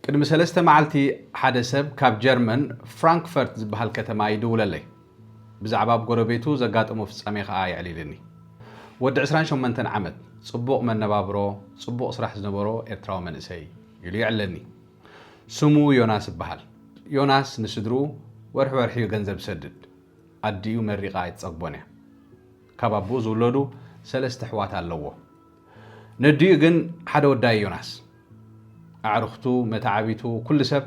ቅድሚ ሰለስተ መዓልቲ ሓደ ሰብ ካብ ጀርመን ፍራንክፈርት ዝበሃል ከተማ ይድውለለይ። ብዛዕባ ኣብ ጎረቤቱ ዘጋጠሞ ፍጻሜ ከኣ የዕሊልኒ። ወዲ ዕስራን ሸሞንተን ዓመት፣ ጽቡቕ መነባብሮ፣ ጽቡቕ ስራሕ ዝነበሮ ኤርትራዊ መንእሰይ፣ ኢሉ የዕልለኒ። ስሙ ዮናስ ይበሃል። ዮናስ ንስድርኡ ወርሒ ወርሒ እዩ ገንዘብ ዝሰድድ። ኣዲኡ መሪቓ ኣይትጸግቦን እያ። ካብ ኣቦኡ ዝውለዱ ሰለስተ ኣሕዋት ኣለዎ። ነዲኡ ግን ሓደ ወዳይ ዮናስ ኣዕርኽቱ መተዓቢቱ ኩሉ ሰብ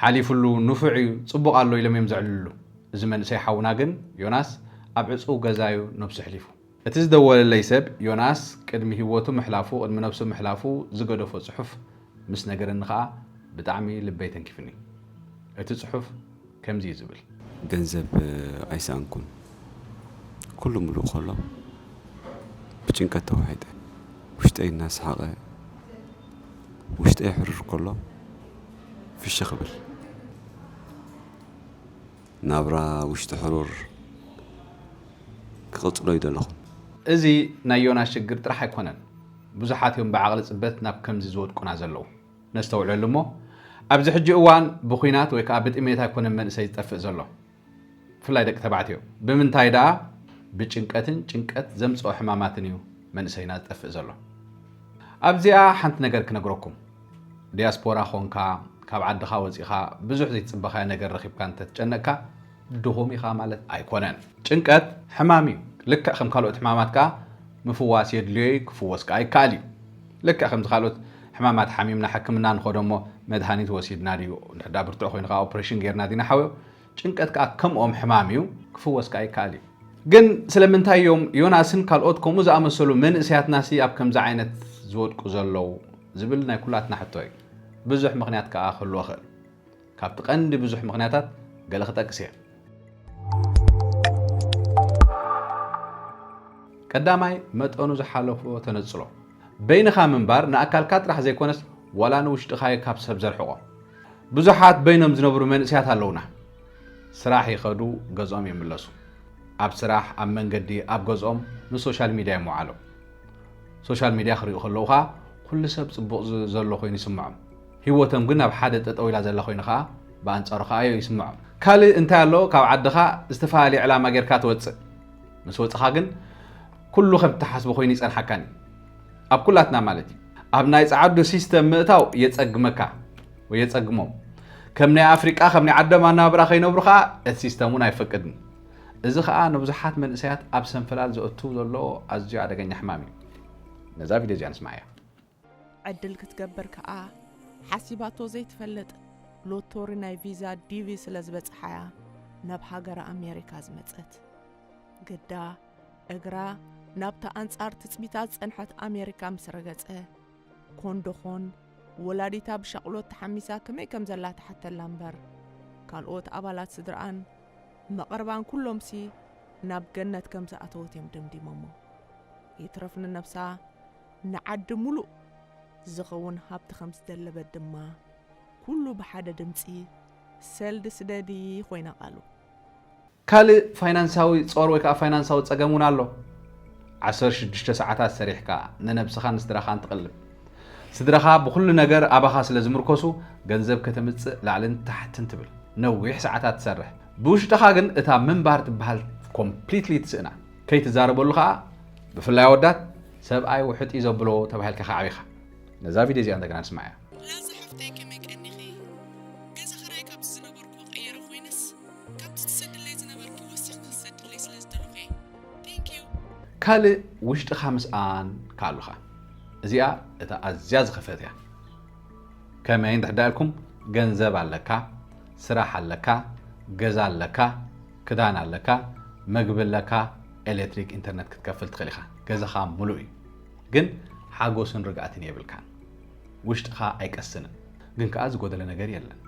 ሓሊፍሉ ንፉዕ እዩ ጽቡቕ ኣሎ ኢሎም እዮም ዘዕልልሉ እዚ መንእሰይ ሓውና ግን ዮናስ ኣብ ዕጽው ገዛ እዩ ነብሱ ኣሕሊፉ እቲ ዝደወለለይ ሰብ ዮናስ ቅድሚ ሂወቱ ምሕላፉ ቅድሚ ነብሱ ምሕላፉ ዝገደፎ ጽሑፍ ምስ ነገረኒ ከኣ ብጣዕሚ ልበይ ተንኪፍኒ። እቲ ጽሑፍ ከምዚ እዩ ዝብል። ገንዘብ ኣይሰኣንኩን። ኩሉ ምሉእ ከሎ ብጭንቀት ተዋሒጠ። ውሽጠይ እናሰሓቐ ውሽጠይ ሕሩር ከሎ ፍሽኽ እብል። ናብራ ውሽጢ ሕሩር ክቕጽሎ ኣይደለኹን። እዚ ናይ ዮናስ ሽግር ጥራሕ ኣይኮነን። ብዙሓት እዮም ብዓቕሊ ጽበት ናብ ከምዚ ዝወድቁና ዘለዉ። ነስተውዕለሉ እሞ ኣብዚ ሕጂ እዋን ብኩናት ወይ ከኣ ብጥሜት ኣይኮነን መንእሰይ ዝጠፍእ ዘሎ ብፍላይ ደቂ ተባዕትዮ ብምንታይ ደኣ ብጭንቀትን ጭንቀት ዘምጽኦ ሕማማትን እዩ መንእሰይና ዝጠፍእ ዘሎ። ኣብዚኣ ሓንቲ ነገር ክነግረኩም ዲያስፖራ ኮንካ ካብ ዓድኻ ወጺኻ ብዙሕ ዘይትጽበኻዮ ነገር ረኺብካ እንተትጨነቅካ ድኹም ኢኻ ማለት ኣይኮነን። ጭንቀት ሕማም እዩ፣ ልክዕ ከም ካልኦት ሕማማት ከኣ ምፍዋስ የድልዮ እዩ፣ ክፍወስ ከኣ ይከኣል እዩ። ልክዕ ከምዚ ካልኦት ሕማማት ሓሚምና ሕክምና ንኸዶ እሞ መድሃኒት ወሲድና ድዩ፣ እንድሕር ደኣ ብርቱዕ ኮይኑ ከኣ ኦፕሬሽን ጌርና ዲና ሓውዮ፣ ጭንቀት ከኣ ከምኦም ሕማም እዩ፣ ክፍወስ ከኣ ይከኣል እዩ። ግን ስለምንታይ እዮም ዮናስን ካልኦት ከምኡ ዝኣመሰሉ መንእሰያትናሲ ኣብ ከምዚ ዓይነት ዝወድቁ ዘለዉ ዝብል ናይ ኩላትና ሕቶ እዩ። ብዙሕ ምኽንያት ከኣ ክህልዎ ይኽእል። ካብቲ ቀንዲ ብዙሕ ምኽንያታት ገለ ክጠቅስ እየ። ቀዳማይ መጠኑ ዝሓለፎ ተነጽሎ። በይንኻ ምንባር ንኣካልካ ጥራሕ ዘይኮነስ ዋላ ንውሽጥኻ'ዩ ካብ ሰብ ዘርሕቖ። ብዙሓት በይኖም ዝነብሩ መንእሰያት ኣለውና። ስራሕ ይኸዱ ገዝኦም ይምለሱ። ኣብ ስራሕ፣ ኣብ መንገዲ፣ ኣብ ገዝኦም ንሶሻል ሚድያ ምውዓሎም። ሶሻል ሚድያ ክሪኡ ከለዉ ከኣ ኩሉ ሰብ ጽቡቕ ዘሎ ኮይኑ ይስምዖም። ሂወቶም ግን ኣብ ሓደ ጠጠው ኢላ ዘላ ኮይኑ ከኣ ብኣንጻሩ ከኣዮ ይስምዖም። ካልእ እንታይ ኣሎ ካብ ዓድኻ ዝተፈላለየ ዕላማ ጌርካ ትወጽእ ምስ ወጽኻ ግን ኩሉ ከም ትሓስቦ ኮይኑ ይጸንሓካን እዩ ኣብ ኩላትና ማለት እዩ ኣብ ናይ ጸዓዱ ሲስተም ምእታው የጸግመካ ወይ የጸግሞም ከም ናይ ኣፍሪቃ ከም ናይ ዓዶም ኣነባብራ ከይነብሩ ከኣ እቲ ሲስተም እውን ኣይፈቅድን እዚ ከኣ ንብዙሓት መንእሰያት ኣብ ሰንፈላል ዘእቱ ዘሎ ኣዝዩ ኣደገኛ ሕማም እዩ ነዛ ቪድዮ እዚኣ ንስማዕ እያ ዕድል ክትገብር ከኣ ሓሲባቶ ዘይትፈልጥ ሎቶሪ ናይ ቪዛ ዲቪ ስለ ዝበጽሓ'ያ ናብ ሃገረ ኣሜሪካ ዝመጸት። ግዳ እግራ ናብታ ኣንጻር ትጽቢታ ዝጸንሐት ኣሜሪካ ምስ ረገጸ፣ ኮንዶኾን ወላዲታ ብሻቕሎት ተሓሚሳ ከመይ ከም ዘላ ትሓተላ እምበር፣ ካልኦት ኣባላት ስድርኣን መቐርባን ኩሎምሲ ናብ ገነት ከም ዝኣተወት'ዮም ደምዲሞሞ። ይትረፍ ንነብሳ፣ ንዓዲ ሙሉእ ዝኸውን ሃብቲ ከም ዝደለበት ድማ ኩሉ ብሓደ ድምፂ ሰልዲ ስደዲ ኮይና ቃሉ። ካልእ ፋይናንሳዊ ጾር ወይ ከኣ ፋይናንሳዊ ጸገም እውን ኣሎ። ዓሰርተ ሽዱሽተ ሰዓታት ሰሪሕካ ንነብስኻን ንስድራኻን ትቕልብ። ስድራኻ ብኹሉ ነገር ኣባኻ ስለ ዝምርኮሱ ገንዘብ ከተምጽእ ላዕልን ታሕትን ትብል። ነዊሕ ሰዓታት ትሰርሕ። ብውሽጥኻ ግን እታ ምንባር ትበሃል ኮምፕሊትሊ ትስእና። ከይትዛረበሉ ከኣ ብፍላይ ኣወዳት ሰብኣይ ውሕጥ እዩ ዘብሎ ተባሂልካ ከዓቢ ኢኻ። ነዛ ቪድዮ እዚኣ እንደገና ንስማዓያ። ላዛ ሓፍተይ ከመይ ቀኒኺ ገዛ ኽራይ ካብዚ ዝነበርክዎ ቀይረ ኮይነስ ካብቲ ክትሰድለይ ዝነበርኪ ወሲኽኪ ክትሰድለይ ስለ ዝደለኹ እየ Thank you። ካልእ ውሽጥኻ ምስኣን ከኣ ኣሉካ እዚኣ እታ ኣዝያ ዝኸፍእት እያ ከመይ እንድሕዳ ኢልኩም ገንዘብ ኣለካ ስራሕ ኣለካ ገዛ ኣለካ ክዳን ኣለካ መግቢ ኣለካ ኤሌክትሪክ ኢንተርነት ክትከፍል ትኽእል ኢኻ ገዛኻ ምሉእ እዩ ግን ሓጎስን ርግኣትን የብልካን ውሽጥኻ ኣይቀስንን ግን ከዓ ዝጎደለ ነገር የለን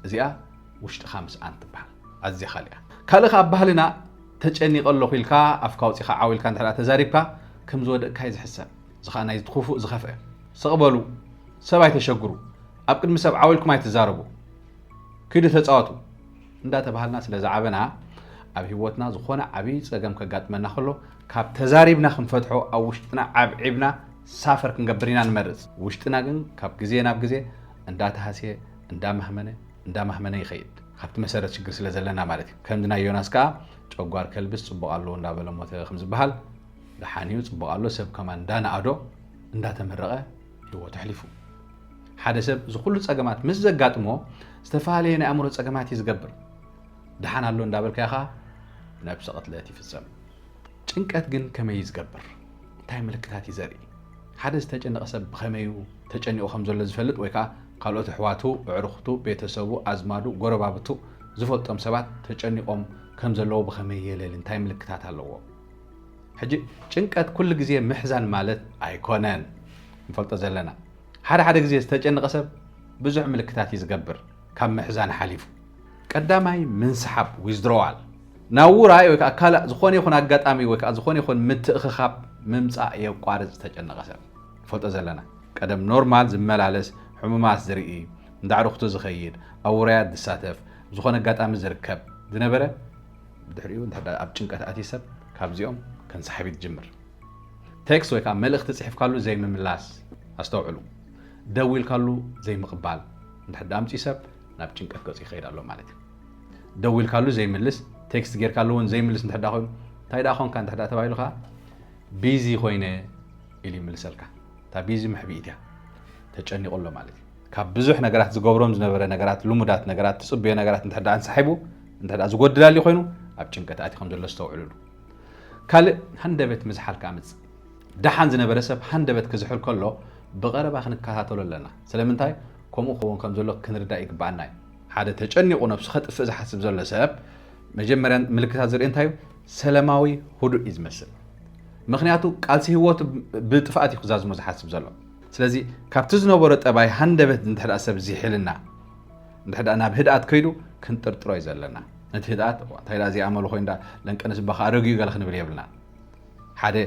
እዚኣ ውሽጥኻ ምስኣን ትበሃል ኣዝያ ካልእ እያ ካልእ ከዓ ባህልና ተጨኒቐ ኣለኹ ኢልካ ኣፍካ ኣውፂኻ ዓው ኢልካ እንተ ተዛሪብካ ከም ዝወደቕካ እዩ ዝሕሰብ እዚ ከዓ ናይዚ ክፉእ ዝኸፍአ ስቕ በሉ ሰብ ኣይተሸግሩ ኣብ ቅድሚ ሰብ ዓው ኢልኩም ኣይትዛረቡ ክዱ ተፃወቱ እንዳተባሃልና ስለ ዝዓበና ኣብ ሂወትና ዝኾነ ዓብይ ጸገም ከጋጥመና ከሎ ካብ ተዛሪብና ክንፈትሖ ኣብ ውሽጥና ዓብዒብና ሳፈር ክንገብር ኢና ንመርጽ ውሽጥና ግን ካብ ግዜ ናብ ግዜ እንዳተሃስየ እንዳማህመነ እንዳማህመነ ይኸይድ ካብቲ መሰረት ሽግር ስለ ዘለና ማለት እዩ ከምዚ ናይ ዮናስ ከኣ ጨጓር ከልብስ ጽቡቕ ኣለዎ እንዳበለ ሞተ ከም ዝበሃል ደሓን እዩ ጽቡቕ ኣሎ ሰብ ከማን እንዳነኣዶ እንዳተመረቐ ህይወቱ ኣሕሊፉ። ሓደ ሰብ እዚ ኩሉ ጸገማት ምስ ዘጋጥሞ ዝተፈላለየ ናይ ኣእምሮ ጸገማት እዩ ዝገብር። ድሓን ኣሎ እንዳበልካዮ ኸዓ ነብሰ ቅትለት ይፍጸም። ጭንቀት ግን ከመይ እዩ ዝገብር? እንታይ ምልክታት እዩ ዘርኢ? ሓደ ዝተጨነቐ ሰብ ብኸመይ እዩ ተጨኒቑ ከም ዘሎ ዝፈልጥ ወይ ከዓ ካልኦት ኣሕዋቱ፣ ኣዕሩኽቱ፣ ቤተሰቡ፣ ኣዝማዱ፣ ጎረባብቱ ዝፈልጦም ሰባት ተጨኒቖም ከም ዘለዎ ብኸመይ የለሊ? እንታይ ምልክታት ኣለዎ? ሕጂ ጭንቀት ኩሉ ግዜ ምሕዛን ማለት ኣይኮነን ንፈልጦ ዘለና ሓደ ሓደ ግዜ ዝተጨነቐ ሰብ ብዙሕ ምልክታት እዩ ዝገብር ካብ ምሕዛን ሓሊፉ ቀዳማይ ምንስሓብ withdrawal ናብ ውራይ ወይ ከዓ ካልእ ዝኾነ ይኹን ኣጋጣሚ ወይ ከዓ ዝኾነ ይኹን ምትእኽኻብ ምምፃእ የቋርፅ ዝተጨነቐ ሰብ ንፈልጦ ዘለና ቀደም ኖርማል ዝመላለስ ሕሙማት ዝርኢ እንዳዕርኽቱ ዝኸይድ ኣብ ውራያት ዝሳተፍ ዝኾነ ኣጋጣሚ ዝርከብ ዝነበረ ድሕሪኡ እንተድኣ ኣብ ጭንቀት ኣትዩ ሰብ ካብዚኦም ከንሳሕብ ይጅምር። ቴክስት ወይ ከዓ መልእኽቲ ፅሒፍካሉ ዘይምምላስ ኣስተውዕሉ። ደዊልካሉ ዘይምቕባል እንድሕር ኣምፅኡ ሰብ ናብ ጭንቀት ገፁ ይኸይድ ኣሎ ማለት እዩ። ደዊልካሉ ዘይምልስ ቴክስት ጌርካሉ እውን ዘይምልስ እንድሕር ኮይኑ እንታይ ደኣ ኮንካ እንድሕር ተባሂሉ ከዓ ቢዚ ኮይነ ኢሉ ይምልሰልካ። እታ ቢዚ መሕብኢት እያ ተጨኒቑ ኣሎ ማለት እዩ። ካብ ብዙሕ ነገራት ዝገብሮም ዝነበረ ነገራት ልሙዳት ነገራት ትፅበዮ ነገራት እንተ ኣንሳሒቡ እንተ ዝጎድል ኣልዩ ኮይኑ ኣብ ጭንቀት ኣቲ ከም ዘሎ ዝተውዕልሉ ካልእ ሃንደበት ምዝሓል ከዓ ምፅእ ደሓን ዝነበረ ሰብ ሃንደበት ክዝሕል ከሎ ብቐረባ ክንከታተሎ ኣለና ስለምንታይ ከምኡ ክኸውን ከም ዘሎ ክንርዳእ ይግብኣና እዩ ሓደ ተጨኒቑ ነብሱ ከጥፍእ ዝሓስብ ዘሎ ሰብ መጀመርያ ምልክታት ዝርኢ እንታይ እዩ ሰላማዊ ህዱእ እዩ ዝመስል ምክንያቱ ቃልሲ ህይወቱ ብጥፍኣት እዩ ክዛዝሞ ዝሓስብ ዘሎ ስለዚ ካብቲ ዝነበሮ ጠባይ ሃንደበት እንድሕዳ ሰብ ዚሒልና እንድሕዳ ናብ ህድኣት ከይዱ ክንጥርጥሮ እዩ ዘለና ነቲ ህድኣት እንታይ ዳ እዚኣ መሉ ኮይን ዳ ለንቀንስ እባ ከኣ ረግዩ ገለ ክንብል የብልና ሓደ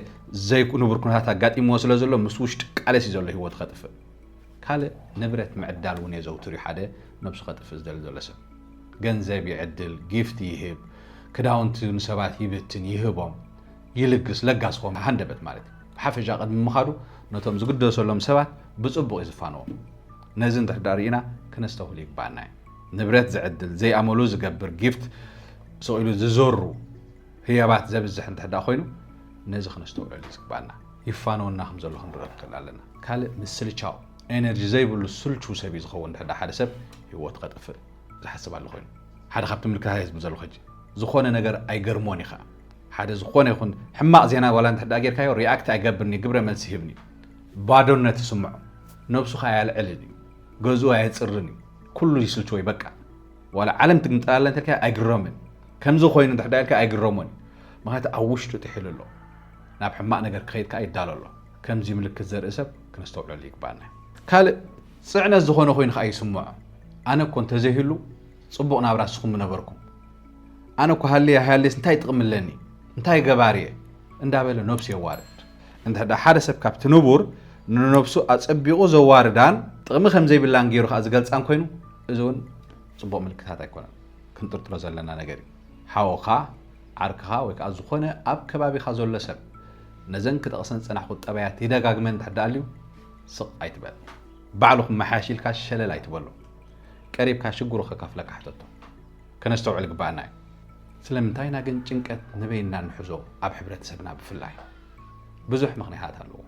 ዘይንቡር ኩነታት ኣጋጢምዎ ስለ ዘሎ ምስ ውሽጢ ቃለሲ ዘሎ ህይወት ከጥፍእ ካልእ ንብረት ምዕዳል እውን የዘውትር እዩ ሓደ ነብሱ ከጥፍእ ዝደሊ ዘሎ ሰብ ገንዘብ ይዕድል ጊፍት ይህብ ክዳውንቲ ንሰባት ይብትን ይህቦም ይልግስ፣ ለጋስ ይኸውን፣ ሃንደበት ማለት እዩ። ብሓፈሻ ቅድሚ ምኻዱ ነቶም ዝግደሰሎም ሰባት ብጽቡቕ እዩ ዝፋነዎም። ነዚ እንድሕር ድኣ ርኢና ክነስተውህል ይግብኣና እዩ። ንብረት ዝዕድል፣ ዘይኣመሉ ዝገብር፣ ጊፍት ስቕ ኢሉ ዝዘሩ፣ ህያባት ዘብዝሕ እንድሕር ድኣ ኮይኑ ነዚ ክነስተውዕለሉ ዝግብኣና። ይፋነወና ከም ዘሎ ክንርእ ንኽእል ኣለና። ካልእ ምስልቻው፣ ኤነርጂ ዘይብሉ ስልቹው ሰብ እዩ ዝኸውን እንድሕር ድኣ ሓደ ሰብ ህይወቱ ከጥፍእ ዝሓስብ ኣሎ ኮይኑ። ሓደ ካብቲ ምልክታት እየ ዝምዘልኹ ሕጂ። ዝኾነ ነገር ኣይገርሞን እዩ ከኣ። ሓደ ዝኾነ ይኹን ሕማቕ ዜና ዋላ እንተድኣ ጌርካዮ ሪኣክት ኣይገብርን እዩ፣ ግብረ መልሲ ይህብን እዩ። ባዶነት ይስምዖ፣ ነብሱ ከኣ ኣየልዕልን እዩ፣ ገዝኡ ኣየጽርን እዩ፣ ኩሉ ይስልችዎ እዩ በቃ። ዋላ ዓለም ትግምጥላለ እንተልካዮ ኣይግረምን፣ ከምዚ ኮይኑ እንድሕዳ ኢልካ ኣይግረሞን እዩ። ምኽንያቱ ኣብ ውሽጡ ጥሒሉ ኣሎ፣ ናብ ሕማቕ ነገር ክኸይድ ከኣ ይዳሎ ኣሎ። ከምዚ ምልክት ዘርኢ ሰብ ክነስተውዕለሉ ይግብኣና እዩ። ካልእ ጽዕነት ዝኾነ ኮይኑ ከኣ ይስምዖ፣ ኣነ እኮ እንተዘይህሉ ጽቡቕ ናብራ ንስኹም ምነበርኩም፣ ኣነ እኳ ሃልየ ኣይሃልየስ እንታይ ጥቕሚ ኣለኒ፣ እንታይ ገባሪ እየ እንዳበለ ነብሱ የዋርድ። እንተድኣ ሓደ ሰብ ካብቲ ንቡር ንነብሱ ኣጸቢቑ ዘዋርዳን ጥቕሚ ከም ዘይብላን ገይሩ ከኣ ዝገልጻን ኮይኑ፣ እዚ እውን ጽቡቕ ምልክታት ኣይኮነን። ክንጥርጥሮ ዘለና ነገር እዩ። ሓውኻ፣ ዓርክኻ ወይ ከኣ ዝኾነ ኣብ ከባቢኻ ዘሎ ሰብ ነዘን ክጠቕሰን ዝጸናሕኩ ጠባያት ይደጋግመን እንተድኣ ኣልዩ፣ ስቕ ኣይትበል። ባዕሉ ክመሓየሽ ኢልካ ሸለል ኣይትበሎ። ቀሪብካ ሽግሩ ከካፍለካ ሕተቶ ከነስተውዕል ይግበኣና እዩ። ስለምንታይ ኢና ግን ጭንቀት ንበይንና እንሕዞ ኣብ ሕብረተሰብና ብፍላይ? ብዙሕ ምኽንያታት ኣለዎ።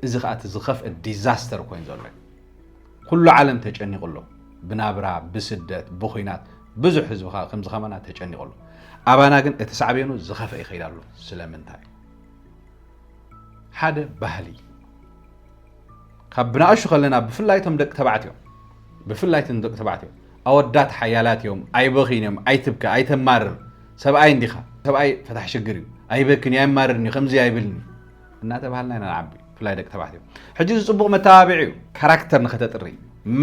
እዚ ከኣ እቲ ዝኸፍእ ዲዛስተር ኮይኑ ዘሎ እዩ። ኩሉ ዓለም ተጨኒቑ ኣሎ። ብናብራ፣ ብስደት፣ ብኹናት ብዙሕ ህዝቢ ከኣ ከምዚ ከማና ተጨኒቑ ኣሎ። ኣባና ግን እቲ ሳዕቤኑ ዝኸፍእ ይኸይድ ኣሎ። ስለምንታይ? ሓደ ባህሊ ካብ ብናእሹ ከለና ብፍላይ እቶም ደቂ ተባዕትዮ ብፍላይ እቶም ደቂ ተባዕትዮ ኣወዳት ሓያላት እዮም ኣይበኺን እዮም ኣይትብከ ኣይተማርር ሰብኣይ እንዲኻ ሰብኣይ ፈታሕ ሽግር እዩ ኣይበክን እዩ ኣይማርርን እዩ ከምዚ ኣይብልን እዩ እናተባሃልና ኢና ንዓቢ ብፍላይ ደቂ ተባዕትዮ ሕጂ እዚ ፅቡቕ መተባብዒ እዩ ካራክተር ንኸተጥሪ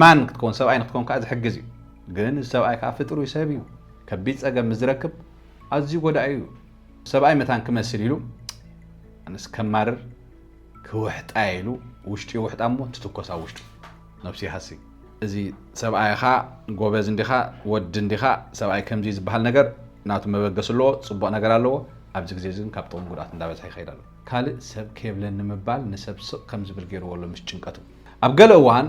ማን ክትከውን ሰብኣይ ንክትከውን ከዓ ዝሕግዝ እዩ ግን እዚ ሰብኣይ ከዓ ፍጥሩይ ሰብ እዩ ከቢድ ፀገም ምስ ዝረክብ ኣዝዩ ጎዳኢ እዩ ሰብኣይ መታን ክመስል ኢሉ ኣነስ ከማርር ክውሕጣ ኢሉ ውሽጡ ይውሕጣ እሞ ትትኮስ ኣብ ውሽጡ ነብሱ ይሃሲ እዚ ሰብኣይ ኢኻ ጎበዝ እንዲኻ ወዲ እንዲኻ ሰብኣይ ከምዚ እዩ ዝበሃል ነገር ናቱ መበገሲ ኣለዎ ጽቡቕ ነገር ኣለዎ ኣብዚ ግዜ እዚ ግን ካብ ጥቕሚ ጉድኣት እንዳበዝሐ ይኸይድ ኣሎ ካልእ ሰብ ከየብለኒ ምባል ንሰብ ስቕ ከም ዝብል ገይርዎ ኣሎ ምስ ጭንቀቱ ኣብ ገለ እዋን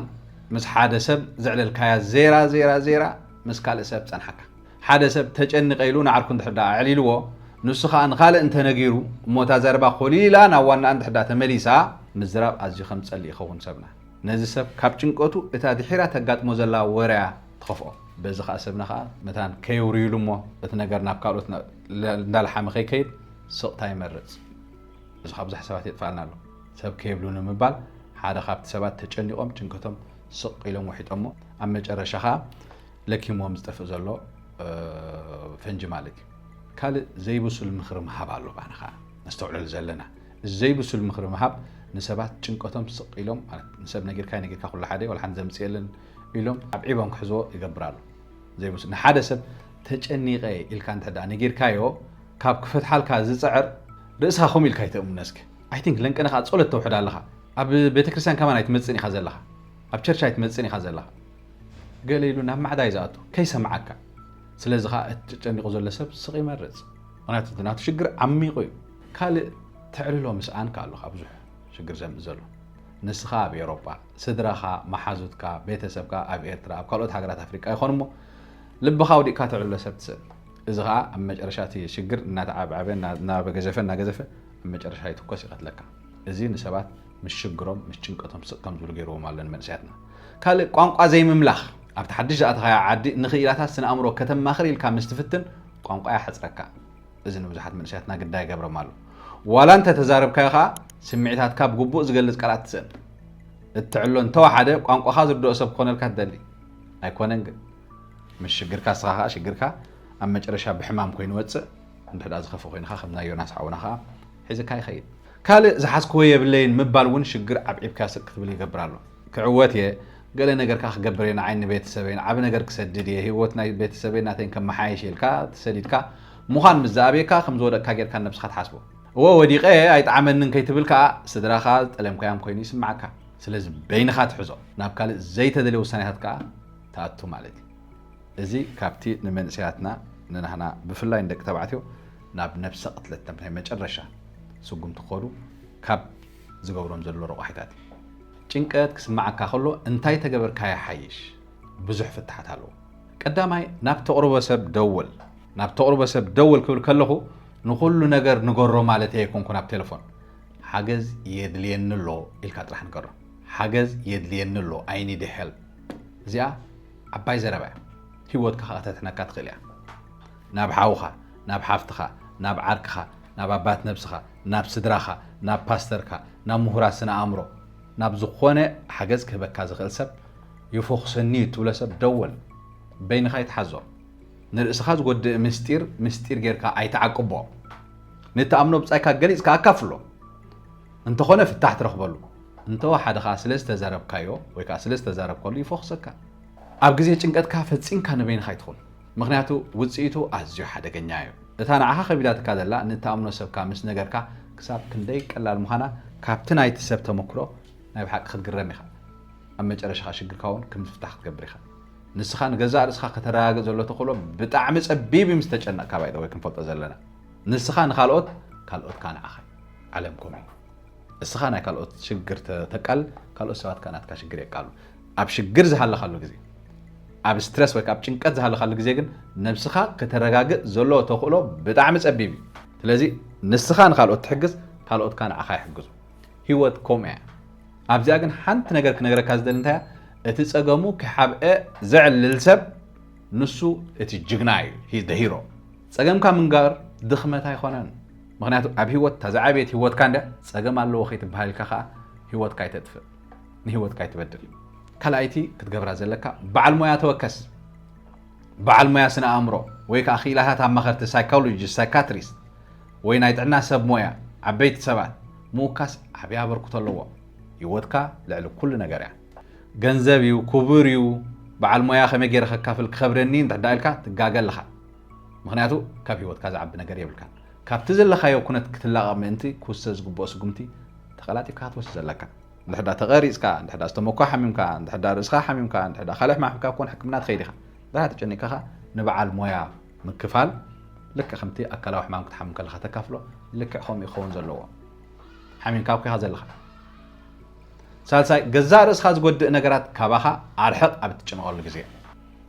ምስ ሓደ ሰብ ዘዕለልካያ ዜራ ዜራ ዜራ ምስ ካልእ ሰብ ጸንሓካ ሓደ ሰብ ተጨኒቐ ኢሉ ንዓርኩ እንድሕር ደኣ ኣዕሊልዎ፣ ንሱ ኸኣ ንኻልእ እንተ ነጊሩ እሞ እታ ዘረባ ኮልል ኢላ ናብ ዋናኣ እንድሕር ደኣ ተመሊሳ፣ ምዝራብ ኣዝዩ ከም ዝጸልእ ይኸውን ሰብና። ነዚ ሰብ ካብ ጭንቀቱ እታ ድሒራ ተጋጥሞ ዘላ ወረ'ያ ትኸፍኦ። በዚ ኸኣ ሰብና ኸኣ መታን ከየውርዩሉ እሞ እቲ ነገር ናብ ካልኦት እንዳለሓመ ከይከይድ ስቕታ ይመርጽ። እዚ ኸኣ ብዙሕ ሰባት የጥፍኣልና ኣሎ። ሰብ ከየብሉኒ ምባል ሓደ ካብቲ ሰባት ተጨኒቖም ጭንቀቶም ስቕ ኢሎም ወሒጦሞ ኣብ መጨረሻ ኸኣ ለኪምዎም ዝጠፍእ ዘሎ ፈንጂ ማለት እዩ። ካልእ ዘይብሱል ምኽሪ ምሃብ ኣሎ ባና ኸኣ ነስተውዕለሉ ዘለና እዚ ዘይብሱል ምኽሪ ምሃብ ንሰባት ጭንቀቶም ስቕ ኢሎም ማለት ንሰብ ነጊርካይ ነጊርካ ኩሉ ሓደ ዋላ ሓንቲ ዘምጽእ የለን ኢሎም ኣብ ዒቦም ክሕዝዎ ይገብር ኣሎ ዘይብሱል ንሓደ ሰብ ተጨኒቐ ኢልካ እንተ ነጊርካዮ ካብ ክፈትሓልካ ዝፅዕር ርእስኻ ከምኡ ኢልካ ይተእምነ እስኪ ኣይ ቲንክ ለንቀነ ከዓ ፀሎት ተውሕድ ኣለኻ ኣብ ቤተክርስትያን ከማን ኣይትመፅን ኢኻ ዘለኻ ኣብ ቸርች ኣይትመፅን ኢኻ ዘለኻ ገለ ኢሉ ናብ ማዕዳ እዩ ዝኣቱ ከይሰምዓካ። ስለዚ ከኣ እቲ ተጨኒቑ ዘሎ ሰብ ስቕ ይመርጽ። ምኽንያቱ እቲ ናቱ ሽግር ዓሚቑ እዩ። ካልእ ተዕልሎ ምስኣንካ ኣሎ ካብ ብዙሕ ሽግር ዘምጽእ ዘሎ። ንስኻ ኣብ ኤውሮጳ፣ ስድራኻ፣ መሓዙትካ፣ ቤተሰብካ ኣብ ኤርትራ፣ ኣብ ካልኦት ሃገራት ኣፍሪቃ ይኾኑ እሞ ልብኻ ኣውዲቕካ ተዕልሎ ሰብ ትስእን። እዚ ከኣ ኣብ መጨረሻ እቲ ሽግር እናተዓብዓበ እናበገዘፈ እናገዘፈ ኣብ መጨረሻ ይትኮስ ይቐትለካ። እዚ ንሰባት ምስ ሽግሮም ምስ ጭንቀቶም ስቕ ከም ዝብሉ ገይርዎም ኣሎ ንመንእሰያትና። ካልእ ቋንቋ ዘይምምላኽ፣ ኣብቲ ሓድሽ ዝኣተኻዮ ዓዲ ንኽኢላታት ስነ ኣእምሮ ከተማኽር ኢልካ ምስ ትፍትን ቋንቋ ይሓጽረካ። እዚ ንብዙሓት መንእሰያትና ግዳይ ይገብሮም ኣሎ። ዋላ እንተ ተዛረብካዮ ከኣ ስምዒታትካ ብግቡእ ዝገልጽ ቃላት ትስእን። እትዕሎ እንተ ወሓደ ቋንቋኻ ዝርድኦ ሰብ ክኾነልካ ትደሊ። ኣይኮነን ግን ምስ ሽግርካ እስኻ ከኣ ሽግርካ ኣብ መጨረሻ ብሕማም ኮይኑ ወጽእ እንድሕዳ ዝኸፍእ ኮይንኻ ከም ናይ ዮናስ ሓውና ከኣ ሒዝካ ይኸይድ። ካልእ ዝሓዝክዎ የብለይን ምባል ውን ሽግር ዓብዒብካ ስቅ ክትብል ይገብር ኣሎ። ክዕወት እየ፣ ገለ ነገር ከኣ ክገብር እየ፣ ንዓይን ንቤተሰበይን ዓቢ ነገር ክሰድድ እየ፣ ሂወት ናይ ቤተሰበይን ናተይን ከመሓይሽ ኢልካ ተሰዲድካ ምዃን ምስ ዝኣብየካ ከም ዝወደቅካ ጌርካ ንነብስኻ ትሓስቦ። እወ ወዲቀ እየ ኣይጠዓመንን ከይትብል ከኣ ስድራኻ ዝጠለምካዮም ኮይኑ ይስምዓካ። ስለዚ በይንኻ ትሕዞ ናብ ካልእ ዘይተደልየ ውሳኔታት ከኣ ትኣቱ ማለት እዩ። እዚ ካብቲ ንመንእሰያትና ንናህና ብፍላይ ንደቂ ተባዕትዮ ናብ ነብሰ ቅትለት ናብ ናይ መጨረሻ ስጉምቲ ክኸዱ ካብ ዝገብሮም ዘሎ ረቋሒታት እዩ። ጭንቀት ክስምዓካ ከሎ እንታይ ተገበርካ ይሓይሽ? ብዙሕ ፍታሓት ኣለዉ። ቀዳማይ ናብ ተቕርቦ ሰብ ደውል። ናብ ተቕርቦ ሰብ ደውል ክብል ከለኹ ንኹሉ ነገር ንገሮ ማለተይ ኣይኮንኩን ኣብ ቴለፎን። ሓገዝ የድልየኒ ኣሎ ኢልካ ጥራሕ ንገሮ። ሓገዝ የድልየኒ ኣሎ I need help እዚኣ ዓባይ ዘረባ እያ። ህይወትካ ከኣ ከተትሕነካ ትኽእል እያ። ናብ ሓውኻ ናብ ሓፍትኻ ናብ ዓርክኻ ናብ ኣባት ነብስኻ ናብ ስድራኻ ናብ ፓስተርካ ናብ ምሁራት ስነ ኣእምሮ ናብ ዝኾነ ሓገዝ ክህበካ ዝኽእል ሰብ ይፎኽሰኒዩ እትብሎ ሰብ ደወል በይንኻ ኣይትሓዞ ንርእስኻ ዝጎድእ ምስጢር ምስጢር ጌርካ ኣይትዓቅቦ ንትኣምኖ ብጻይካ ገሊጽካ ኣካፍሎ እንተኾነ ፍታሕ ትረኽበሉ እንተወሓደ ከዓ ስለ ዝተዛረብካዮ ወይ ከዓ ስለ ዝተዛረብከሉ ይፎኽሰካ ኣብ ግዜ ጭንቀትካ ፈጺምካ ንበይንኻ ኣይትኹን ምኽንያቱ ውጽኢቱ ኣዝዩ ሓደገኛ እዩ። እታ ንዓኻ ከቢዳትካ ዘላ ንእትኣምኖ ሰብካ ምስ ነገርካ ክሳብ ክንደይ ቀላል ምዃና ካብቲ ናይቲ ሰብ ተመክሮ ናይ ብሓቂ ክትግረም ኢኻ። ኣብ መጨረሻኻ ሽግርካ እውን ከም ዝፍታሕ ክትገብር ኢኻ። ንስኻ ንገዛእ ርእስኻ ከተረጋግእ ዘሎ ተኽእሎ ብጣዕሚ ጸቢብ እዩ ምስ ተጨነቕካ ባይ ዘ ወይ ክንፈልጦ ዘለና ንስኻ ንካልኦት ካልኦትካ ንዓኻ እዩ። ዓለም ከምኡ እዩ። እስኻ ናይ ካልኦት ሽግር ተቃል ካልኦት ሰባት ከኣ ናትካ ሽግር የቃሉ። ኣብ ሽግር ዝሃለኻሉ ግዜ፣ ኣብ ስትረስ ወይ ኣብ ጭንቀት ዝሃለኻሉ ግዜ ግን ነብስኻ ከተረጋግእ ዘለዎ ተኽእሎ ብጣዕሚ ጸቢብ እዩ። ስለዚ ንስኻ ንኻልኦት ትሕግዝ፣ ካልኦት ከኣ ንዓኻ ይሕግዙ። ህይወት ከምኡ እያ። ኣብዚኣ ግን ሓንቲ ነገር ክነግረካ ዝደሊ እንታይ እያ፣ እቲ ጸገሙ ክሓብኤ ዘዕልል ሰብ ንሱ እቲ ጅግና እዩ፣ ሂዝ ዘ ሂሮ። ጸገምካ ምንጋር ድኽመት ኣይኮነን፣ ምኽንያቱ ኣብ ህይወት እታ ዝዓበየት ህይወትካ እንድያ፣ ጸገም ኣለዎ ከይትበሃል ኢልካ ከኣ ህይወትካ ኣይተጥፍእ። ንህይወትካ ኣይትበድል። ካልኣይቲ ክትገብራ ዘለካ በዓል ሞያ ተወከስ፣ በዓል ሞያ ስነ ኣእምሮ ወይ ከዓ ክኢላታት ኣማኸርቲ ሳይኮሎጂስት፣ ሳይካትሪስት ወይ ናይ ጥዕና ሰብ ሞያ ዓበይቲ ሰባት ምውካስ ዓብይ ኣበርክቶ ኣለዎ። ህይወትካ ልዕሊ ኩሉ ነገር እያ። ገንዘብ እዩ፣ ክቡር እዩ፣ በዓል ሞያ ከመይ ገይረ ከካፍል ክኸብደኒ እንድሕዳ ኢልካ ትጋገ ኣለኻ። ምኽንያቱ ካብ ህይወትካ ዝዓቢ ነገር የብልካን። ካብቲ ዘለኻዮ ኩነት ክትላቐቕ ምእንቲ ክውሰድ ዝግብኦ ስጉምቲ ተቐላጢፍካ ክትወስድ ኣለካ። እንድሕዳ ተቐሪጽካ፣ እንድሕዳ ዝተመኳ ሓሚምካ፣ እንድሕዳ ርእስኻ ሓሚምካ፣ እንድሕዳ ካልእ ሕማም ሕምካ ኮን ሕክምና ትኸይድ ኢኻ። ድኣ ተጨኒቕካ ከኣ ንበዓል ሞያ ምክፋል ልክዕ ከምቲ ኣካላዊ ሕማም ክትሓምም ከለኻ ተካፍሎ ልክዕ ከምኡ እዩ ክኸውን ዘለዎ። ሓሚምካ እኮ ኢኻ ዘለኻ። ሳልሳይ ገዛእ ርእስኻ ዝጎድእ ነገራት ካባኻ ኣርሕቕ ኣብ እትጭነቐሉ ግዜ።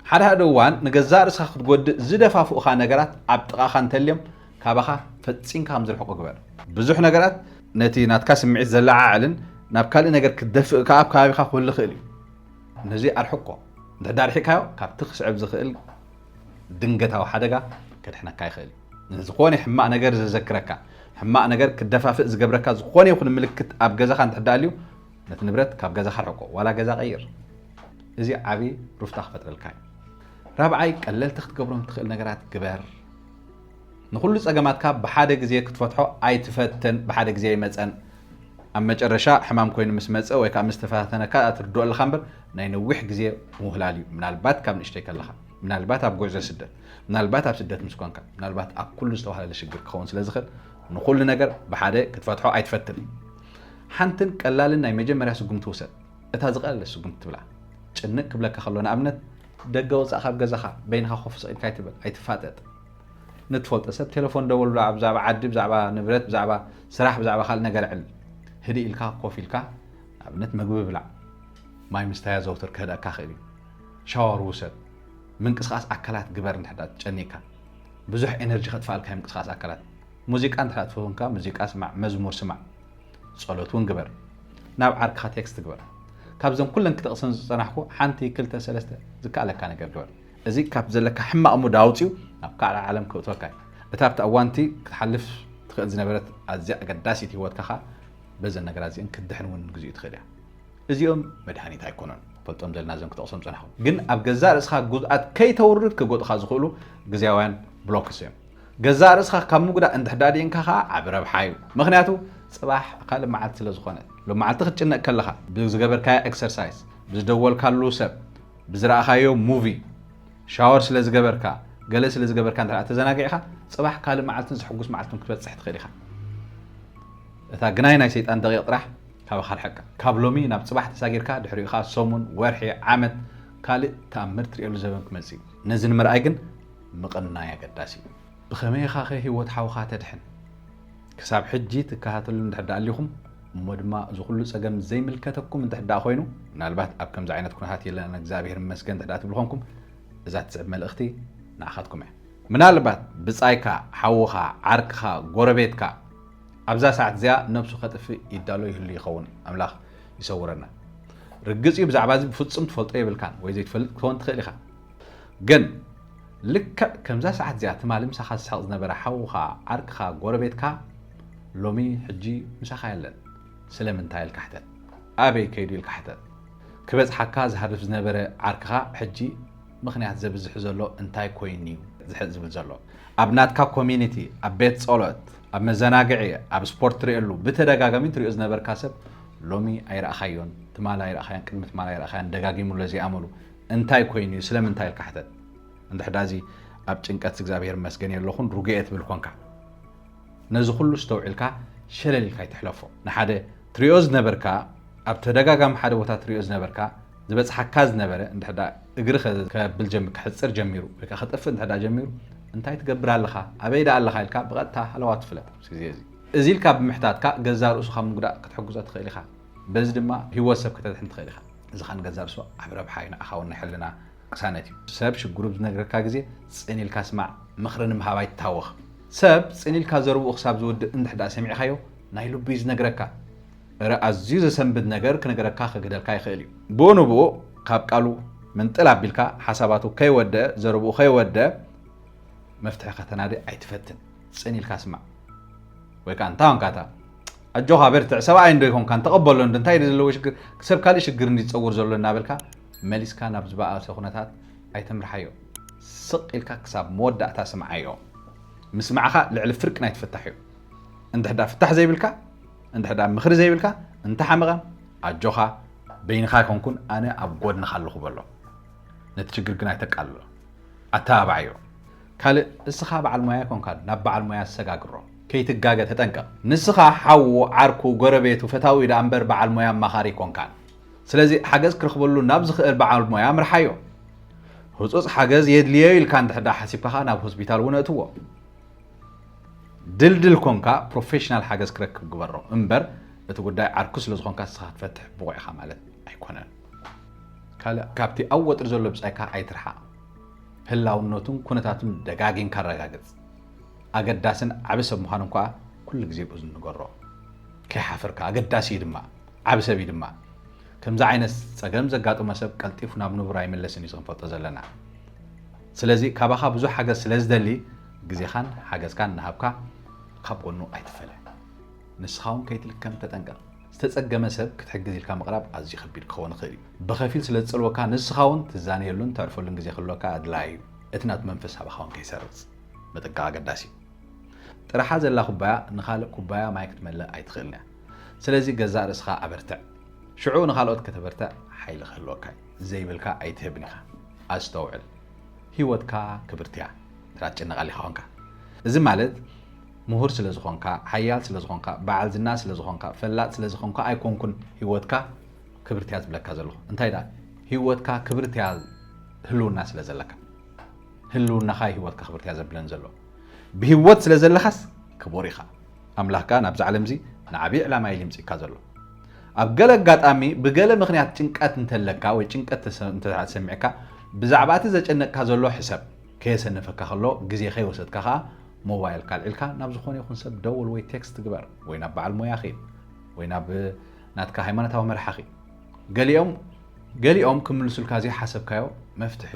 ሓደ ሓደ እዋን ንገዛእ ርእስኻ ክትጎድእ ዝደፋፍኡኻ ነገራት ኣብ ጥቓኻ እንተልዮም ካባኻ ፈጺምካ ከም ዝርሕቁ ግበር። ብዙሕ ነገራት ነቲ ናትካ ስምዒት ዘለዓዕልን ናብ ካልእ ነገር ክትደፍእ ከኣ ኣብ ከባቢኻ ክህሉ ይኽእል እዩ። ነዚ ኣርሕቆ። እንድሕር ደኣ ኣርሒቕካዮ ካብቲ ክስዕብ ዝኽእል ድንገታዊ ሓደጋ ከድሕነካ ይኽእል እዩ። ንዝኾነ ሕማቕ ነገር ዘዘክረካ፣ ሕማቕ ነገር ክትደፋፍእ ዝገብረካ ዝኾነ ይኹን ምልክት ኣብ ገዛኻ እንድሕር ደኣ ኣልዩ፣ ነቲ ንብረት ካብ ገዛኻ ኣርሕቆ፣ ዋላ ገዛ ቀይር። እዚ ዓቢ ሩፍታ ክፈጥረልካ እዩ። ራብዓይ፣ ቀለልቲ ክትገብሮም እትኽእል ነገራት ግበር። ንኹሉ ጸገማትካ ብሓደ ግዜ ክትፈትሖ ኣይትፈትን ብሓደ ግዜ ኣይመጸን ኣብ መጨረሻ ሕማም ኮይኑ ምስ መጸ ወይ ከኣ ምስ ተፈታተነካ እያ ትርድኦ ኣለካ እምበር ናይ ነዊሕ ግዜ ምውህላል እዩ ምናልባት ካብ ንእሽተይ ከለካ ምናልባት ኣብ ጉዕዞ ስደት ምናልባት ኣብ ስደት ምስ ኮንካ ምናልባት ኣብ ኩሉ ዝተዋህለለ ሽግር ክኸውን ስለ ዝኽእል ንኹሉ ነገር ብሓደ ክትፈትሖ ኣይትፈትን ሓንትን ቀላልን ናይ መጀመርያ ስጉምቲ ውሰድ እታ ዝቐለለ ስጉምቲ ትብላ ጭንቅ ክብለካ ከሎ ንኣብነት ደገ ወጻእ ካብ ገዛኻ በይንኻ ኮፍ ስቕ ኢልካ ኣይትበል፣ ኣይትፋጠጥ። ንትፈልጦ ሰብ ቴለፎን ደውልሉ፣ ኣብ ብዛዕባ ዓዲ፣ ብዛዕባ ንብረት፣ ብዛዕባ ስራሕ፣ ብዛዕባ ካልእ ነገር ኣዕልል። ህድእ ኢልካ ኮፍ ኢልካ ንኣብነት መግቢ ብላዕ፣ ማይ ምስታይ ኣዘውትር ከህድኣካ ይኽእል እዩ። ሻወር ውሰድ፣ ምንቅስቓስ ኣካላት ግበር እንድሕር ደኣ ተጨኒቕካ። ብዙሕ ኤነርጂ ከጥፍኣልካ እዩ ምንቅስቓስ ኣካላት። ሙዚቃ እንድሕር ደኣ ትፈትው እንካ ሙዚቃ ስማዕ፣ መዝሙር ስማዕ። ጸሎት ውን ግበር ናብ ዓርክኻ ቴክስት ግበር ካብዘን ኩለን ክጠቕሰን ዝጸናሕኩ ሓንቲ ክልተ ሰለስተ ዝከኣለካ ነገር ግበር እዚ ካብ ዘለካ ሕማቕ ሙድ ኣውጺኡ ናብ ካልእ ዓለም ከእትወካ እዩ እታ ኣብቲ ኣዋንቲ ክትሓልፍ ትኽእል ዝነበረት ኣዝያ ኣገዳሲት ህይወትካ ከኣ በዘን ነገራት እዚእን ክትድሕን ውን ግዚኡ ትኽእል እያ እዚኦም መድሃኒት ኣይኮኑን ፈልጦም ዘለና ዘም ክጠቕሶም ጸናኹ ግን ኣብ ገዛእ ርእስኻ ጉዝኣት ከይተውርድ ክጎጥኻ ዝኽእሉ ግዜያውያን ብሎክስ እዮም ገዛእ ርእስኻ ካብ ምጉዳእ እንድሕር ኣድኢንካ ከኣ ዓቢ ረብሓ እዩ። ምኽንያቱ ጽባሕ ካልእ መዓልቲ ስለ ዝኾነ። ሎምዓልቲ ክትጭነቅ ከለኻ ብዝገበርካዮ ኤክሰርሳይስ፣ ብዝደወልካሉ ሰብ፣ ብዝረኣኻዮ ሙቪ፣ ሻወር ስለ ዝገበርካ፣ ገለ ስለ ዝገበርካ እንድሕር ተዘናጊዕኻ ጽባሕ ካልእ መዓልትን ዘሕጉስ መዓልትን ክትበጽሕ ትኽእል ኢኻ። እታ ግናይ ናይ ሰይጣን ደቂቅ ጥራሕ ካባኻ ኣርሕቃ። ካብ ሎሚ ናብ ጽባሕ ተሳጊርካ ድሕሪኡ ከኣ ሰሙን፣ ወርሒ፣ ዓመት ካልእ ተኣምር ትርእየሉ ዘበን ክመጽእ እዩ። ነዚ ንምርኣይ ግን ምቕናይ ኣገዳሲ እዩ። ብኸመይ ኢኻኸ ህይወት ሓውኻ ተድሕን? ክሳብ ሕጂ ትከታተሉኒ እንድሕር ደኣ ኣሊኹም፣ እሞ ድማ እዚ ኩሉ ጸገም ዘይምልከተኩም እንድሕር ደኣ ኮይኑ፣ ምናልባት ኣብ ከምዚ ዓይነት ኩነታት የለናን እግዚኣብሄር ይመስገን እንድሕር ደኣ ትብሉ ኮንኩም፣ እዛ ትስዕብ መልእኽቲ ንዓኻትኩም እያ። ምናልባት ብጻይካ፣ ሓውኻ፣ ዓርክኻ፣ ጎረቤትካ ኣብዛ ሰዓት እዚኣ ነብሱ ከጥፍእ ይዳሎ ይህሉ ይኸውን። ኣምላኽ ይሰውረና። ርግጽ እዩ ብዛዕባ እዚ ብፍጹም ትፈልጦ የብልካን ወይ ዘይትፈልጥ ክትከውን ትኽእል ኢኻ። ግን ልክዕ ከምዛ ሰዓት እዚኣ ትማሊ ምሳኻ ዝስሕቕ ዝነበረ ሓውኻ፣ ዓርክኻ፣ ጎረቤትካ ሎሚ ሕጂ ምሳኻ የለን። ስለምንታይ ኢልካ ሕተት። ኣበይ ከይዱ ኢልካ ሕተት። ክበጽሓካ ዝሃርፍ ዝነበረ ዓርክኻ ሕጂ ምኽንያት ዘብዝሕ ዘሎ እንታይ ኮይኑ'ዩ ዝሕእ ዝብል ዘሎ። ኣብ ናትካ ኮሚኒቲ፣ ኣብ ቤት ጸሎት፣ ኣብ መዘናግዒ፣ ኣብ ስፖርት ትርእየሉ ብተደጋጋሚ ትርእዮ ዝነበርካ ሰብ ሎሚ ኣይረኣኻዮን፣ ትማሊ ኣይረኣኻዮን፣ ቅድሚ ትማሊ ኣይረኣኻዮን፣ ደጋጊሙ'ሎ እዚ ኣመሉ። እንታይ ኮይኑ እዩ ስለምንታይ ኢልካ ሕተት እንድሕዳ እዚ ኣብ ጭንቀት እግዚኣብሔር ይመስገን የለኹን ሩግኤ ትብል ኮንካ ነዚ ኩሉ እስተውዒልካ ሸለል ኢልካ ይትሕለፎ ንሓደ ትሪኦ ዝነበርካ ኣብ ተደጋጋሚ ሓደ ቦታ ትሪኦ ዝነበርካ ዝበፅሓካ ዝነበረ እንድሕዳ እግሪ ከብል ጀሚ ክሕፅር ጀሚሩ ወይ ከጥፍእ እንድሕዳ ጀሚሩ እንታይ ትገብር ኣለኻ ኣበይ ዳ ኣለኻ ኢልካ ብቐጥታ ሃለዋ ትፍለጥ ኣብዚ ግዜ እዚ እዚ ኢልካ ብምሕታትካ ገዛ ርእሱካ ምጉዳእ ክትሕግዞ ትኽእል ኢኻ በዚ ድማ ህይወት ሰብ ከተድሕን ትኽእል ኢኻ ዝኻን ገንዛብ ስብ ዓቢ ረብሓ እዩ ንዓኻ ውን ናይ ሕልና ቅሳነት እዩ። ሰብ ሽግሩ ኣብ ዝነግረካ ግዜ ጽን ኢልካ ስማዕ ምኽሪ ንምሃብ ኣይትታወኽ ሰብ ጽን ኢልካ ዘርብኡ ክሳብ ዝውድእ እንድሕዳ ሰሚዕካዮ ናይ ልቡ እዩ ዝነግረካ እረ ኣዝዩ ዘሰንብድ ነገር ክነገረካ ክግህደልካ ይኽእል እዩ ብኡ ንብኡ ካብ ቃሉ ምንጥል ኣቢልካ ሓሳባቱ ከይወደኣ ዘርብኡ ከይወደኣ መፍትሒ ከተናዲ ኣይትፈትን ጽን ኢልካ ስማዕ ወይ ከኣ እንታ ወንካታ ኣጆኻ በርትዕ ሰብኣይ እንዶ ኣይኮንካን ተቐበሎ እንዶ እንታይ ድዩ ዘለዎ ሽግር ሰብ ካልእ ሽግር እንዲ ዝፀውር ዘሎ እናበልካ መሊስካ ናብ ዝበኣሰ ኩነታት ኣይተምርሓዮ ስቕ ኢልካ ክሳብ መወዳእታ ስምዓዮ ምስማዕኻ ልዕሊ ፍርቂ ናይ ትፍታሕ እዩ እንድሕዳ ፍታሕ ዘይብልካ እንድሕዳ ምኽሪ ዘይብልካ እንተሓመቐ ኣጆኻ በይንኻ ኣይኮንኩን ኣነ ኣብ ጎድንኻ ኣለኹ በሎ ነቲ ችግር ግን ኣይተቃልሎ ኣተባባዓዮ ካልእ እስኻ በዓል ሞያ ኣይኮንካን ናብ በዓል ሞያ ኣሰጋግሮ ከይትጋገ ተጠንቀቅ ንስካ ሓዉ ዓርኩ ጎረቤቱ ፈታዊ ደኣ እምበር በዓል ሞያ ኣማኻሪ ኣይኮንካን ስለዚ ሓገዝ ክረክበሉ ናብ ዝክእል በዓል ሞያ ምርሓዮ ህጹጽ ሓገዝ የድልዮ ኢልካ እንድሕር ደኣ ሓሲብካ ከኣ ናብ ሆስፒታል ውን ኣእትዎ ድልድል ኮንካ ፕሮፌሽናል ሓገዝ ክረክብ ግበሮ እምበር እቲ ጉዳይ ዓርኩ ስለ ዝኮንካ ንስካ ክትፈትሕ ብቁዕ ኢካ ማለት ኣይኮነን ካልእ ካብቲ ኣብ ወጥሪ ዘሎ ብጻይካ ኣይትርሓቅ ህላውነቱን ኩነታቱን ደጋጊምካ ኣረጋግጽ ኣገዳስን ዓቢ ሰብ ምዃኑን ከኣ ኩሉ ግዜ ብኡ ዝንገሮ ከይሓፈርካ ኣገዳሲ እዩ ድማ ዓቢ ሰብ እዩ ድማ ከምዚ ዓይነት ጸገም ዘጋጥሞ ሰብ ቀልጢፉ ናብ ንቡር ኣይምለስን እዩ ክንፈልጦ ዘለና ስለዚ ካባኻ ብዙሕ ሓገዝ ስለ ዝደሊ ግዜኻን ሓገዝካን እናሃብካ ካብ ጎኑ ኣይትፈለ ንስኻ እውን ከይትልከም ተጠንቀቕ ዝተጸገመ ሰብ ክትሕግዝ ኢልካ ምቕራብ ኣዝዩ ከቢድ ክኸውን ይኽእል እዩ ብኸፊል ስለ ዝጸልወካ ንስኻ እውን ትዛነየሉን ተዕርፈሉን ግዜ ክህልወካ ኣድላይ እዩ እቲ ናቱ መንፈስ ኣባኻ እውን ከይሰርጽ ምጥንቃቕ ኣገዳሲ እዩ። ጥርሓ ዘላ ኩባያ ንኻልእ ኩባያ ማይ ክትመልእ ኣይትኽእልን እያ። ስለዚ ገዛእ ርእስኻ ኣበርትዕ። ሽዑ ንኻልኦት ከተበርትዕ ሓይሊ ክህልወካ እዩ። ዘይብልካ ኣይትህብን ኢኻ። ኣስተውዕል። ህይወትካ ክብርቲ እያ። እንተ ትጭነቕ ኣሊኻ ኾንካ። እዚ ማለት ምሁር ስለ ዝኾንካ፣ ሓያል ስለ ዝኾንካ፣ በዓል ዝና ስለ ዝኾንካ፣ ፈላጥ ስለ ዝኾንካ ኣይኮንኩን ህይወትካ ክብርቲ እያ ዝብለካ ዘለኹ። እንታይ ደኣ ህይወትካ ክብርቲ እያ ህልውና ስለ ዘለካ። ህልውናኻ እዩ ህይወትካ ክብርቲ እያ ዘብለን ዘሎ ብህይወት ስለ ዘለኻስ ክቡር ኢኻ ኣምላኽ ከኣ ናብዚ ዓለም እዚ ንዓብዪ ዕላማ እዩ ልምፂካ ዘሎ ኣብ ገለ ኣጋጣሚ ብገለ ምክንያት ጭንቀት እንተለካ ወይ ጭንቀት እንተሰሚዕካ ብዛዕባ እቲ ዘጨነቅካ ዘሎ ሕሰብ ከየሰነፈካ ከሎ ግዜ ከይወሰድካ ከዓ ሞባይል ካልዒልካ ናብ ዝኾነ ይኹን ሰብ ደውል ወይ ቴክስት ግበር ወይ ናብ በዓል ሞያ ኺድ ወይ ናብ ናትካ ሃይማኖታዊ መርሓኺ ገሊኦም ገሊኦም ክምልሱልካ ዘይሓሰብካዮ መፍትሒ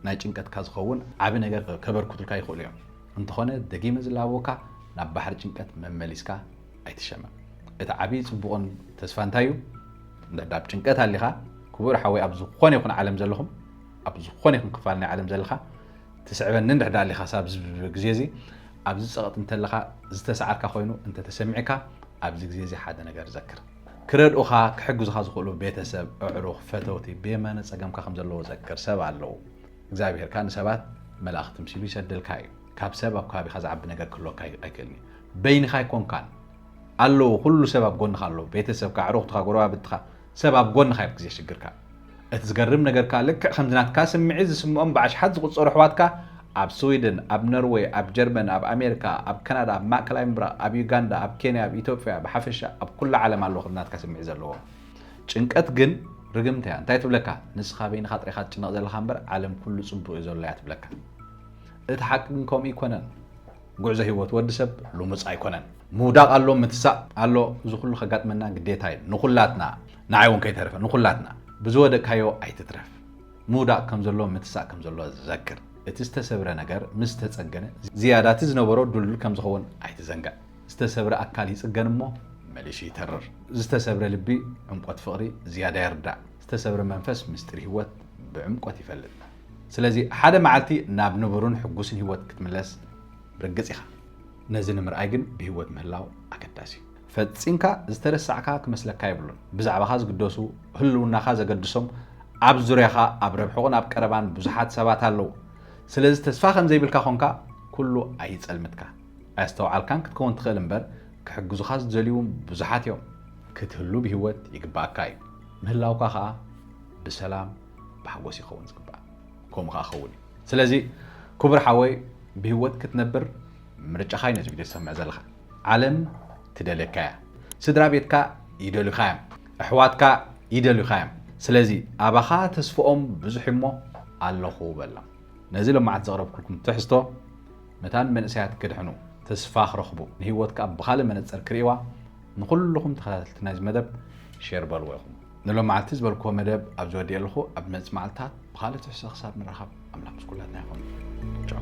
ናይ ጭንቀትካ ዝኸውን ዓቢ ነገር ከበርክቱልካ ይኽእሉ እዮም። እንተኾነ ደጊመ ዝላበወካ ናብ ባሕሪ ጭንቀት መመሊስካ ኣይትሸመም። እቲ ዓቢ ጽቡቕን ተስፋ እንታይ እዩ? እንድሕር ኣብ ጭንቀት ኣሊኻ ክቡር ሓወይ ኣብ ዝኾነ ይኹን ዓለም ዘለኹም ኣብ ዝኾነ ይኹን ክፋል ናይ ዓለም ዘለኻ ትስዕበኒ እንድሕር ኣሊኻ ሳብ ግዜ እዚ ኣብዚ ጸቕጢ እንተለኻ ዝተሰዓርካ ኮይኑ እንተተሰሚዕካ ኣብዚ ግዜ እዚ ሓደ ነገር ዘክር ክረድኡኻ፣ ክሕግዙኻ ዝኽእሉ ቤተሰብ፣ ኣዕሩኽ፣ ፈተውቲ ብየማነ ጸገምካ ከም ዘለዉ ዘክር። ሰብ ኣለዉ። እግዚኣብሄር ከኣ ንሰባት መላእኽቲ ምሲሉ ይሰደልካ እዩ። ካብ ሰብ ኣብ ከባቢኻ ዝዓቢ ነገር ክህልወካ ኣይክእልን እዩ። በይንኻ ኣይኮንካን። ኣለዉ፣ ኩሉ ሰብ ኣብ ጎንኻ ኣሎ። ቤተሰብካ፣ ኣዕሩኽትኻ፣ ጎረባብትኻ፣ ሰብ ኣብ ጎንኻ እዩ ኣብ ግዜ ሽግርካ። እቲ ዝገርም ነገር ከኣ ልክዕ ከምዚ ናትካ ስምዒት ዝስምኦም ብኣሽሓት ዝቑጸሩ ኣሕዋትካ ኣብ ስዊድን፣ ኣብ ኖርወይ፣ ኣብ ጀርመን፣ ኣብ ኣሜሪካ፣ ኣብ ካናዳ፣ ኣብ ማእከላይ ምብራቕ፣ ኣብ ዩጋንዳ፣ ኣብ ኬንያ፣ ኣብ ኢትዮጵያ፣ ብሓፈሻ ኣብ ኩላ ዓለም ኣለዉ ከምዚ ናትካ ስምዒት ዘለዎም። ጭንቀት ግን ርግምቲ እያ። እንታይ ትብለካ? ንስኻ በይንኻ ጥራይካ ትጭነቕ ዘለኻ እምበር ዓለም ኩሉ ጽቡቕ እዩ ዘሎ እያ ትብለካ። እቲ ሓቂ ግን ከምኡ ኣይኮነን። ጉዕዞ ህይወት ወዲ ሰብ ልሙጽ ኣይኮነን። ምውዳቕ ኣሎ፣ ምትሳእ ኣሎ፣ እዚ ኩሉ ከጋጥመና ግዴታ እዩ ንኹላትና። ንዓይ ውን ከይተረፈ ንኩላትና ብዝወደቅካዮ ኣይትትረፍ ምውዳቅ ከምዘሎ ምትሳእ ከምዘሎ ዘክር እቲ ዝተሰብረ ነገር ምስ ተጸገነ ዝያዳ እቲ ዝነበሮ ድልዱል ከምዝኸውን ኣይትዘንግዕ ዝተሰብረ ኣካል ይጽገን እሞ መሊሱ ይተርር ዝተሰብረ ልቢ ዕምቆት ፍቅሪ ዝያዳ ይርዳእ ዝተሰብረ መንፈስ ምስጢር ሂወት ብዕምቆት ይፈልጥ ስለዚ ሓደ መዓልቲ ናብ ንቡርን ሕጉስን ሂወት ክትምለስ ርግጽ ኢኻ ነዚ ንምርኣይ ግን ብሂወት ምህላው ኣገዳሲ እዩ። ፈጺምካ ዝተረሳዕካ ክመስለካ የብሉን። ብዛዕባኻ ዝግደሱ፣ ህልውናኻ ዘገድሶም፣ ኣብ ዙርያኻ ኣብ ረብሕቑን ኣብ ቀረባን ብዙሓት ሰባት ኣለዉ። ስለዚ ተስፋ ከም ዘይብልካ ኾንካ ኩሉ ኣይጸልምትካ። ኣየስተውዓልካን ክትከውን ትኽእል እምበር ክሕግዙኻ ዝደልዩውን ብዙሓት እዮም። ክትህሉ ብህይወት ይግብኣካ እዩ። ምህላውካ ኸኣ ብሰላም ብሓጎስ ይኸውን ዝግባእ። ከምኡ ኸኣ ክኸውን እዩ። ስለዚ ክቡር ሓወይ ብህይወት ክትነብር ምርጫኻ እዩ ነዚ ቪድዮ ትሰምዕ ዘለኻ። ዓለም ትደልየካ እያ ስድራቤትካ ይደልዩኻ እዮም ኣሕዋትካ ይደልዩኻ እዮም ስለዚ ኣባኻ ተስፍኦም ብዙሕ እዩ እሞ ኣለኹ በሎም ነዚ ለማዓት ዘቕረብኩልኩም ትሕዝቶ ነታ ንመንእሰያት ክድሕኑ ተስፋ ክረኽቡ ንህይወት ከዓ ብኻልእ መነፅር ክርእዋ ንኹልኹም ተኸታተልቲ ናይዚ መደብ ሼር በልዎ ኢኹም ንሎማዓልቲ ዝበልክዎ መደብ ኣብዚ ወዲኤ ኣለኹ። ኣብ ዝመጽእ መዓልትታት ብኻልእ ትሕዝቶ ክሳብ ንራኸብ ኣምላኽ ምስ ኩላትና ይኹን። ቻው